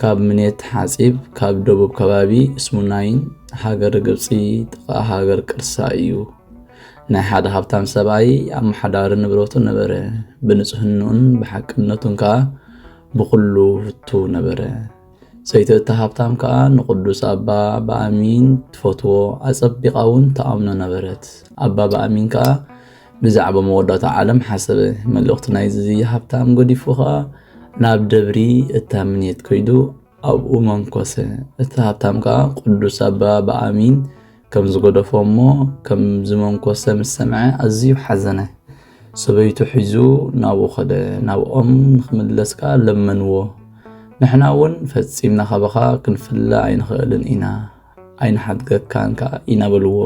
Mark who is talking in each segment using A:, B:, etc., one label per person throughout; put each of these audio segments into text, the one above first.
A: ካብ ምኔት ሓጺብ ካብ ደቡብ ከባቢ እስሙናይን ሃገር ግብፂ ጥቓ ሃገር ቅርሳ እዩ። ናይ ሓደ ሃብታም ሰብኣይ ኣመሓዳሪ ንብረቱ ነበረ ብንጽህንኡን ብሓቅነቱን ከኣ ብዅሉ ህቱ ነበረ ሰይቲ እቲ ሃብታም ከኣ ንቕዱስ ኣባ ብኣሚን ትፈትዎ ኣጸቢቓ እውን ተኣምኖ ነበረት ኣባ ብኣሚን ከኣ ብዛዕባ መወዳእታ ዓለም ሓሰበ። መልእኽቲ ናይዚ ሃብታም ገዲፉ ኸኣ ናብ ደብሪ እታምኔት ከይዱ ኣብኡ መንኮሰ። እቲ ሃብታም ከኣ ቅዱስ ኣባ ብኣሚን ከም ዝገደፎ እሞ ከም ዝመንኮሰ ምስ ሰምዐ ኣዝዩ ሓዘነ። ሰበይቱ ሒዙ ናብኡ ኸደ። ናብኦም ንኽምለስ ከኣ ለመንዎ። ንሕና እውን ፈጺምና ካባኻ ክንፍለ ኣይንኽእልን ኢና፣ ኣይንሓድገካን ከኣ ኢና በልዎ።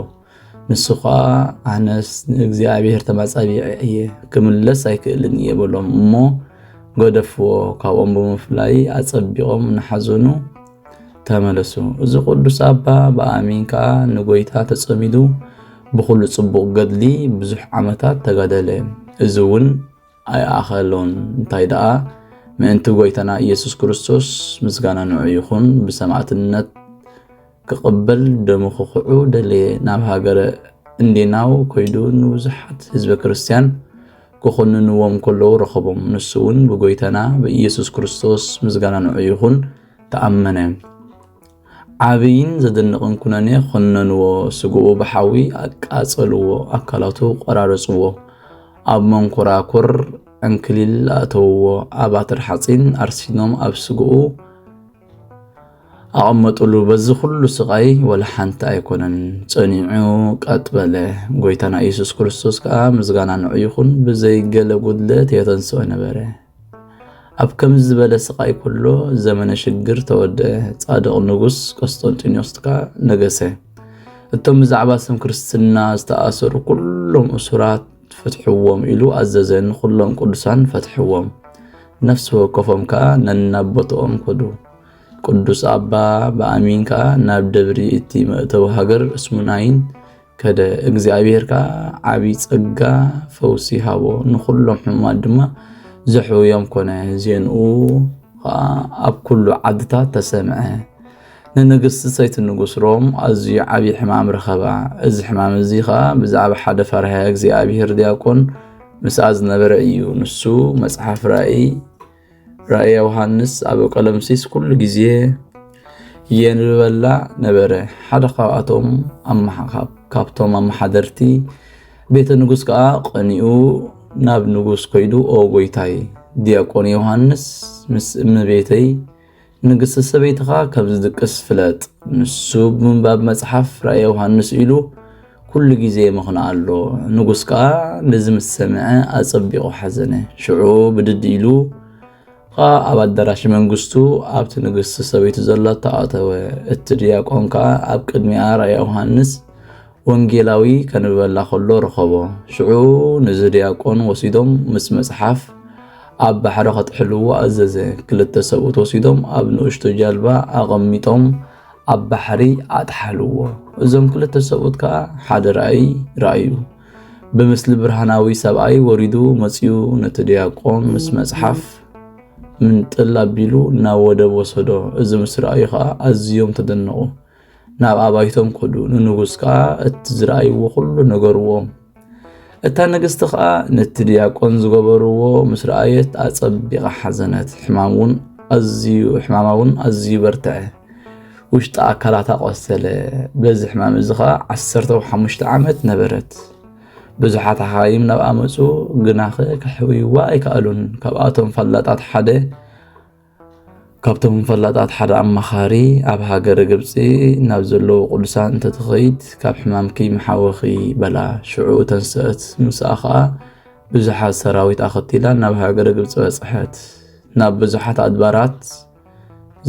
A: ንሱ ኸኣ ኣነስ ንእግዚኣብሔር ተማጻቢዐ እየ ክምለስ ኣይክእልን እየ በሎም እሞ ገደፍዎ ካብኦም ብምፍላይ ኣጸቢቖም ንሓዘኑ ተመለሱ እዚ ቅዱስ ኣባ ብኣሚን ከኣ ንጎይታ ተጸሚዱ ብኹሉ ጽቡቕ ገድሊ ብዙሕ ዓመታት ተጋደለ እዚ እውን ኣይኣኸሎን እንታይ ደኣ ምእንቲ ጎይታና ኢየሱስ ክርስቶስ ምስጋና ንዑ ይኹን ብሰማዕትነት ክቕበል ደሙ ክኽዑ ደለየ ናብ ሃገረ እንዴናው ኮይዱ ንብዙሓት ህዝበ ክርስቲያን ክኹንንዎም ከለዉ ረኸቦም ንሱ እውን ብጎይታና ብኢየሱስ ክርስቶስ ምስጋና ንዑ ይኹን ተኣመነ ዓብይን ዘደንቕን ኩነኔ ኾነንዎ፣ ስግኡ ብሓዊ ኣቃጸልዎ፣ ኣካላቱ ቖራረጽዎ፣ ኣብ መንኮራኩር ዕንክሊል ኣእተውዎ፣ ኣብ ኣተር ሓጺን ኣርሲኖም ኣብ ስግኡ ኣቐመጥሉ፣ በዚ ኹሉ ስቓይ ወላ ሓንቲ ኣይኮነን ጸኒዑ ቀጥ በለ፣ ጎይታና ኢየሱስ ክርስቶስ ከኣ ምስጋና ንዑ ይኹን ብዘይ ገለ ጉድለት የተንሥኦ ነበረ። ኣብ ከምዚ ዝበለ ስቓይ ኩሎ ዘመነ ሽግር ተወደአ፣ ጻድቕ ንጉስ ቆስጠንጢኖስ ከኣ ነገሰ። እቶም ብዛዕባ ስም ክርስትና ዝተኣሰሩ ኩሎም እሱራት ፍትሕዎም ኢሉ ኣዘዘ፣ ንኹሎም ቅዱሳን ፈትሕዎም። ነፍሲ ወከፎም ከኣ ነናቦትኦም ከዱ። ቅዱስ ኣባ ብኣሚን ከኣ ናብ ደብሪ እቲ መእተዊ ሃገር እስሙናይን ከደ እግዚኣብሔር ከኣ ዓብዪ ጸጋ ፈውሲ ሃቦ ንዅሎም ሕሙማት ድማ ዘሕውዮም ኮነ ዜንኡ ኸኣ ኣብ ኩሉ ዓድታት ተሰምዐ ንንግስቲ ሰይቲ ንጉስ ሮም ኣዝዩ ዓብዪ ሕማም ረኸባ እዚ ሕማም እዚ ኸኣ ብዛዕባ ሓደ ፈርሃ እግዚኣብሔር ዲያቆን ምስኣ ዝነበረ እዩ ንሱ መጽሓፍ ራእይ ራእየ ዮሃንስ ኣብ ቀለምሲስ ኩሉ ግዜ የንብበላ ነበረ። ሓደ ካብኣቶም ካብቶም ኣመሓደርቲ ቤተ ንጉስ ከዓ ቀኒኡ ናብ ንጉስ ኮይዱ ኦ ጎይታይ ዲያቆን ዮሃንስ ምስ እመቤተይ ንግሥቲ ሰበይትኻ ካብ ዝድቅስ ፍለጥ፣ ንሱ ብምንባብ መጽሓፍ ራእየ ዮሓንስ ኢሉ ኩሉ ጊዜ የመኽንኣ ኣሎ። ንጉሥ ከኣ ነዚ ምስ ሰምዐ ኣጸቢቑ ሓዘነ። ሽዑ ብድድ ኢሉ ኸኣ ኣብ ኣዳራሽ መንግሥቱ ኣብቲ ንግሥቲ ሰበይቱ ዘላቶ ኣተወ። እቲ ድያቆን ከኣ ኣብ ቅድሚኣ ራእየ ዮሓንስ ወንጌላዊ ከንብበላ ከሎ ረኸቦ። ሽዑ ንዚ ድያቆን ወሲዶም ምስ መጽሓፍ ኣብ ባሕሪ ከጥሕልዎ ኣዘዘ። ክልተ ሰብኡት ወሲዶም ኣብ ንእሽቶ ጃልባ ኣቐሚጦም ኣብ ባሕሪ ኣጥሓልዎ። እዞም ክልተ ሰብኡት ከዓ ሓደ ራእይ ረኣዩ። ብምስሊ ብርሃናዊ ሰብኣይ ወሪዱ መፅኡ ነቲ ድያቆን ምስ መፅሓፍ ምንጥል ኣቢሉ ናብ ወደብ ወሰዶ። እዚ ምስ ረኣዩ ከዓ ኣዝዮም ተደነቑ። ናብ ኣባይቶም ከዱ፣ ንንጉስ ከዓ እቲ ዝረኣይዎ ኩሉ ነገርዎም። እታ ንግስቲ ከዓ ነቲ ድያቆን ዝገበርዎ ምስ ረኣየት ኣጸቢቓ ሓዘነት፣ ሕማም እውን ኣዝዩ ሕማማ እውን ኣዝዩ በርትዐ፣ ውሽጢ ኣካላታ ቆሰለ። በዚ ሕማም እዚ ከዓ ዓሰርተ ሓሙሽተ ዓመት ነበረት። ብዙሓት ሓኻይም ናብኣ መጹ፣ ግናኸ ከሕውይዋ ኣይከኣሉን። ካብኣቶም ፈላጣት ሓደ ካብቶም ፈላጣት ሓደ ኣማኻሪ ኣብ ሃገረ ግብፂ ናብ ዘለዉ ቅዱሳን እንተትኸይድ ካብ ሕማምኪ መሓወኺ በላ ሽዑ ተንስአት ምስኣ ኸዓ ብዙሓት ሰራዊት ኣኸቲላ ናብ ሃገረ ግብፂ በፅሐት ናብ ብዙሓት ኣድባራት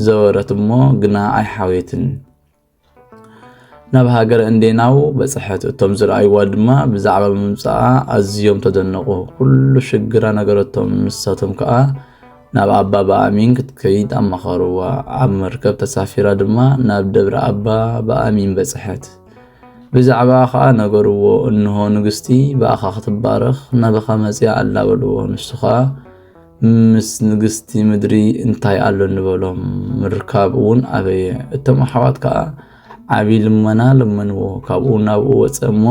A: ዘወረት እሞ ግና ኣይሓወየትን ናብ ሃገረ እንዴናው በጽሐት። እቶም ዝረኣይዋ ድማ ብዛዕባ ምምጻኣ ኣዝዮም ተደነቑ። ኩሉ ሽግራ ነገረቶም፣ ንሳቶም ከኣ ናብ ኣባ በኣሚን ክትከይድ ኣማኸርዋ። ኣብ መርከብ ተሳፊራ ድማ ናብ ደብረ ኣባ በኣሚን በጽሐት። ብዛዕባ ኸኣ ነገርዎ፣ እንሆ ንግስቲ ብኣኻ ክትባረኽ ናባኻ መጺኣ ኣላ በልዎ። ንሱ ኸኣ ምስ ንግስቲ ምድሪ እንታይ ኣሎ ንበሎም ምርካብ እውን ኣበየ እቶም ኣሕዋት ከዓ ዓብዪ ልመና ለመንዎ ካብኡ ናብኡ ወፀ እሞ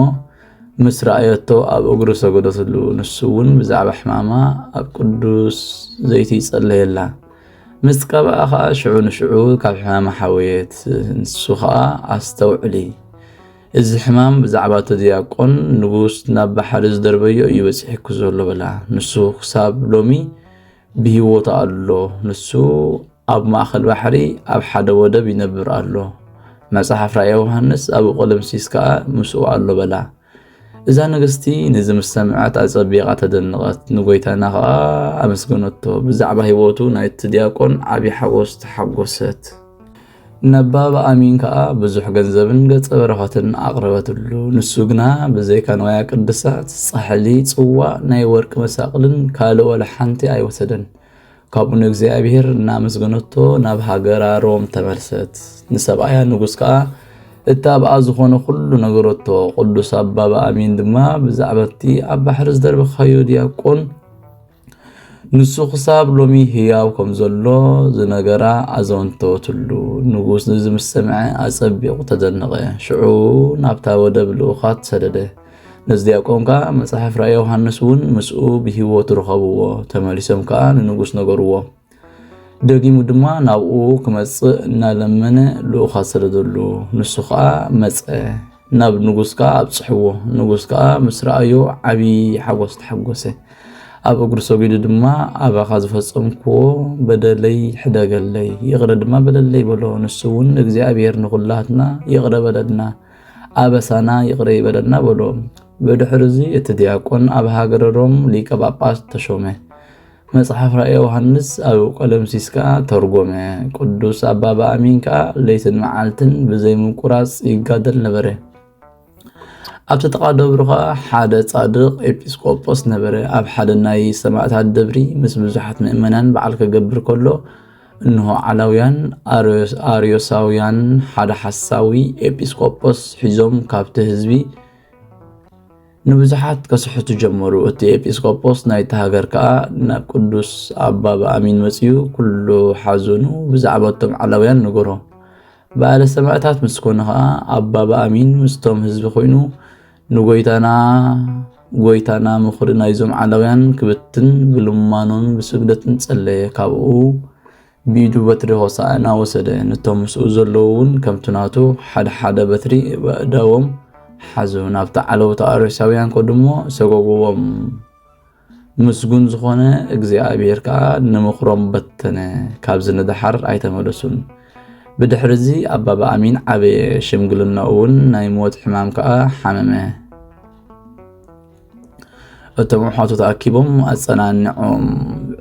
A: ምስ ረኣየቶ ኣብ እግሩ ሰገደትሉ ንሱ እውን ብዛዕባ ሕማማ ኣብ ቅዱስ ዘይቲ ይጸለየላ ምስ ቀብኣ ከዓ ሽዑ ንሽዑ ካብ ሕማማ ሓወየት ንሱ ከዓ ኣስተውዕሊ እዚ ሕማም ብዛዕባ እቲ ድያቆን ንጉስ ናብ ባሕሪ ዝደርበዮ እዩ በጺሕኩ ዘሎ በላ። ንሱ ክሳብ ሎሚ ብህይወቱ ኣሎ። ንሱ ኣብ ማእከል ባሕሪ ኣብ ሓደ ወደብ ይነብር ኣሎ። መጽሓፍ ራእየ ዮሃንስ ኣብ ቆለምሲስ ከኣ ምስኡ ኣሎ በላ። እዛ ንግስቲ ነዚ ምስ ሰምዐት ኣጸቢቓ ተደነቐት፣ ንጎይታና ከኣ ኣመስገነቶ። ብዛዕባ ህይወቱ ናይቲ ድያቆን ዓብዪ ሓጎስ ተሓጎሰት። ነባብ ኣሚን ከኣ ብዙሕ ገንዘብን ገጸ በረኸትን ኣቕረበትሉ። ንሱ ግና ብዘይካ ንዋያ ቅድሳት፣ ጻሕሊ፣ ጽዋእ፣ ናይ ወርቂ መሳቕልን ካልእ ወላ ሓንቲ ኣይወሰደን። ካብኡ ንእግዚኣብሔር እናመስገነቶ ናብ ሃገራ ሮም ተመልሰት። ንሰብኣያ ንጉስ ከዓ እታብኣ ዝኾነ ኩሉ ነገረቶ። ቅዱስ ኣባ በኣሚን ድማ ብዛዕባ እቲ ኣብ ባሕሪ ዝደርበኻዮ ዲያቆን ንሱ ክሳብ ሎሚ ህያው ከም ዘሎ ዝነገራ ኣዘንተወትሉ። ንጉስ ንዚ ምስ ሰምዐ ኣጸቢቑ ተደነቐ። ሽዑ ናብታ ወደብ ልኡኻት ሰደደ። ነዚ ዲያቆን ከኣ መጽሓፍ ራእይ ዮሃንስ እውን ምስኡ ብህይወት ርኸብዎ፣ ተመሊሶም ከኣ ንንጉስ ነገርዎ። ደጊሙ ድማ ናብኡ ክመጽእ እናለመነ ልኡኻት ስለ ዘሉ ንሱ ከዓ መጸ ናብ ንጉስ ከዓ ኣብጽሕዎ ንጉስ ከዓ ምስ ረኣዮ ዓብዪ ሓጎስ ተሓጎሰ ኣብ እግሩ ሰጊዱ ድማ ኣባኻ ዝፈጸምክዎ በደለይ ሕደገለይ ይቕረ ድማ በለለይ በሎ ንሱ እውን እግዚኣብሔር ንኹላትና ይቕረ በለልና ኣበሳና ይቕረ ይበለና በሎ ብድሕሪ እዚ እቲ ዲያቆን ኣብ ሃገረ ሮም ሊቀ ጳጳስ ተሾመ መጽሓፍ ራእየ ዮሃንስ ኣብ ቆለምሲስ ከኣ ተርጎመ። ቅዱስ ኣባ በኣሚን ከኣ ለይትን መዓልትን ብዘይምቁራጽ ይጋደል ነበረ። ኣብቲ ጥቓ ደብሩ ከኣ ሓደ ጻድቕ ኤጲስቆጶስ ነበረ። ኣብ ሓደ ናይ ሰማእታት ደብሪ ምስ ብዙሓት ምእመናን በዓል ከገብር ከሎ እንሆ ዓላውያን ኣርዮሳውያን ሓደ ሓሳዊ ኤጲስቆጶስ ሒዞም ካብቲ ህዝቢ ንብዙሓት ከስሕቱ ጀመሩ። እቲ ኤጲስቆጶስ ናይቲ ሃገር ከኣ ናብ ቅዱስ ኣባ ብኣሚን መጺኡ ኩሉ ሓዘኑ ብዛዕባ እቶም ዓላውያን ነገሮ። በዓለ ሰማእታት ምስ ኮነ ከኣ ኣባ ብኣሚን ምስቶም ህዝቢ ኮይኑ ንጎይታና ጎይታና ምኽሪ ናይዞም ዓላውያን ክብትን ብልማኖን ብስግደትን ጸለየ። ካብኡ ብኢዱ በትሪ ሆሣዕና ወሰደ፣ ነቶም ምስኡ ዘለዉውን ከምቲ ናቱ ሓደ ሓደ በትሪ በእዳዎም ሓዙ፣ ናብቲ ዓለውቲ ኣርዮሳውያን ከዱሞ ሰጎጉዎም፣ ምስጉን ዝኾነ እግዚኣብሔር ከዓ ንምኽሮም በተነ፣ ካብዚ ንደሓር ኣይተመለሱን። ብድሕርዚ ኣባ በኣሚን ዓበየ፣ ሽምግልናኡውን ናይ ሞት ሕማም ከዓ ሓመመ። እቶም ኣሕዋቱ ተኣኪቦም ኣጸናንዖም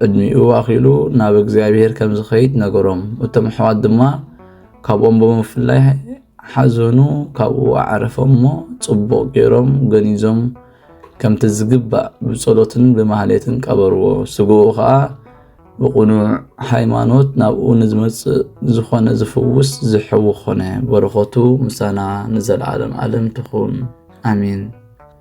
A: ዕድሚኡ ኣኺሉ ናብ እግዚኣብሔር ከም ዝኸይድ ነገሮም እቶም ኣሕዋት ድማ ካብኦም ብምፍላይ ሓዘኑ ካብኡ ኣዕረፎም እሞ ጽቡቕ ገይሮም ገኒዞም ከምቲ ዝግባእ ብጸሎትን ብማህሌትን ቀበርዎ ስግኡ ከዓ ብቕኑዕ ሃይማኖት ናብኡ ንዝመጽእ ዝኾነ ዝፍውስ ዝሕዊ ኾነ በረኸቱ ምሳና ንዘለዓለም ዓለም ትኹን ኣሜን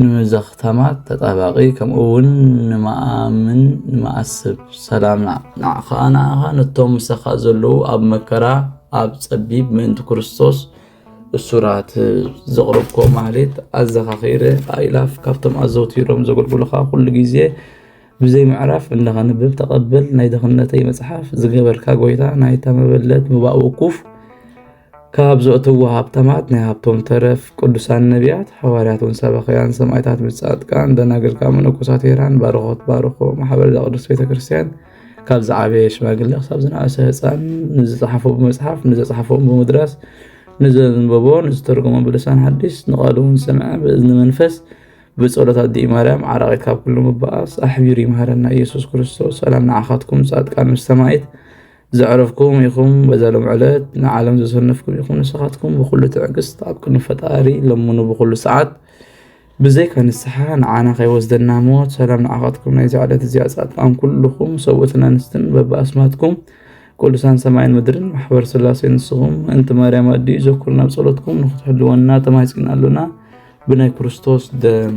A: ንዛ ክታማ ተጣባቂ ከምኡ ውን ንማኣምን ንማኣስብ ሰላምና ንዓኻ ንዓኻ ነቶም ምሳኻ ዘለዉ ኣብ መከራ ኣብ ጸቢብ ምእንቲ ክርስቶስ እሱራት ዘቕረብኮ ማህሌት ኣዘኻኺረ ኣኢላፍ ካብቶም ኣዘውቲሮም ዘገልግሉኻ ኩሉ ግዜ ብዘይ ምዕራፍ እንዳኸንብብ ተቐበል ናይ ድኽነተይ መጽሓፍ ዝገበርካ ጎይታ ናይታ መበለት ምባእ ውኩፍ ካብ ዘእትዎ ሃብታማት ናይ ሃብቶም ተረፍ ቅዱሳን ነቢያት ሓዋርያትን ሰበኽያን ሰማዕታት ብጻድቃን ደናግል ካብ መነኮሳት ሄራን ባርኾት ባርኾ ማሕበር ዘቅዱስ ቤተ ክርስቲያን ካብ ዝዓበየ ሽማግለ ክሳብ ዝነኣሰ ህፃን ንዝፀሓፎ ብመፅሓፍ ንዘፅሓፎም ብምድራስ ንዘንበቦ ንዝተርጎሞ ብልሳን ሓዲስ ንቃልውን ዝሰምዐ ብእዝኒ መንፈስ ብጸሎት ኣዲ ማርያም ዓራቒት ካብ ኩሉ ምባኣስ ኣሕቢሩ ይምሃረና ኢየሱስ ክርስቶስ ሰላም ንዓኻትኩም ጻድቃን ምስ ሰማዒት ዘዕረፍኩም ኢኹም በዛ ሎም ዕለት ንዓለም ዘሰነፍኩም ኢኹም ንስኻትኩም ብኩሉ ትዕግስት ኣብ ቅድሚ ፈጣሪ ለምኑ ብኩሉ ሰዓት ብዘይካ ንስሓ ንዓና ከይወስደና ሞት ሰላም ንዓኻትኩም ናይ ዛዕለት እዚኣ ጻድቃን ኩልኹም ሰብኡትን ኣንስትን በብኣስማትኩም ቅዱሳን ሰማይን ምድርን ማሕበር ስላሴ ንስኹም እንቲ ማርያም ኣድዩ ዘኩርና ናብ ጸሎትኩም ንክትሕልወና ተማሂጽና ኣሎና ብናይ ክርስቶስ ደም